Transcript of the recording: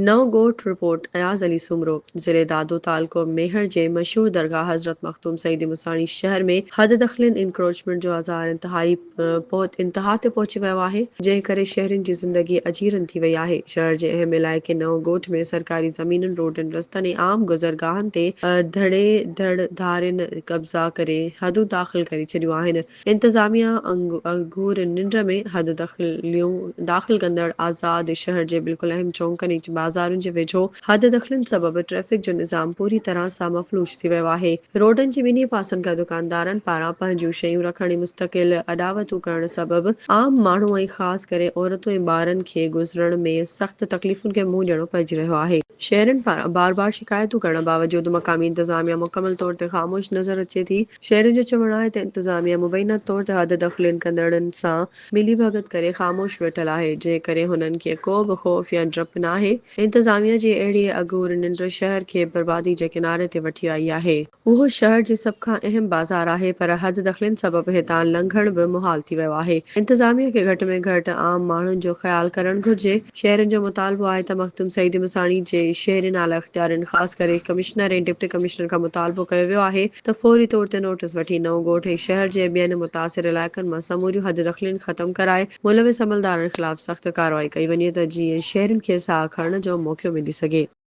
نئون ڳوٺ، رپورٽ، اياز علي سومرو، ضلعي دادو تعلقو ميهڙ جي مشهور درگاهه حضرت مخدوم سعيد مصاڻي شهر ۾ حد دخلين، Encroachment، جو آزار انتهائي پهت انتها تي پهچي ويو آهي، جنهن ڪري شهرين جي زندگي اجيرن ٿي وئي آهي، شهر جي اهم علائقي نئون ڳوٺ ۾ سرڪاري زمينن، روڊن، رستن ۽ عام گذرگاهن تي ڌڙي ڌڙ ڌارين قبضا ڪري حدون داخل ڪري ڇڏيون آهن. انتظاميا اگهور ننڊ ۾ حد دخليون داخل ڪندڙ آزاد شهر جي بلڪل اهم چونڪن ۽ بازارن جي ويجهو حد دخلين سبب ٽريفڪ جو نظام پوري طرح سان مفلوج ٿي ويو آهي. روڊن جي ٻنهي پاسن کان دڪاندارن پاران پنهنجون شيون رکڻ ۽ مستقل اڏاوتون ڪرڻ سبب عام ماڻهو ۽ خاص ڪري عورتون ۽ ٻارن کي گذرڻ ۾ سخت تڪليفن کي منهن ڏيڻو پئجي رهيو آهي. شهرين پاران بار بار شڪايتون ڪرڻ باوجود مقامي انتظاميا مڪمل طور تي خاموش نظر اچي ٿي، شهرين جو چوڻ آهي ته انتظاميا مبينا طور تي حد دخلين ڪندڙن سان ملي ڀڳت ڪري خاموش ويٺل آهي جنهن ڪري هنن کي ڪو به خوف يا ڊپ ناهي، انتظاميا جي اهڙي اگهور ننڊ شهر کي بربادي جي ڪناري تي وٺي آئي آهي. اهو شهر جي سڀ کان اهم بازار آهي پر حد دخلين سبب هتان لنگهڻ به محال ٿي ويو آهي. انتظاميه کي گهٽ ۾ گهٽ عام ماڻهن جو خيال ڪرڻ گهرجي. شهرين جو مطالبو آهي ته مخدوم سعيد مصاڻي جي شهرين اعليٰ اختيارين خاص ڪري ڪمشنر ۽ ڊپٽي ڪمشنر کان مطالبو ڪيو ويو آهي ته فوري طور تي نوٽس وٺي نئون ڳوٺ ۽ شهر جي ٻين متاثر علائقن مان سموريون حد دخلين ختم ڪرائي ملوث عملدارن خلاف سخت ڪارروائي ڪئي وڃي ته جيئن شهرين کي ساهه کڻڻ جو موقعو ملي سگهي.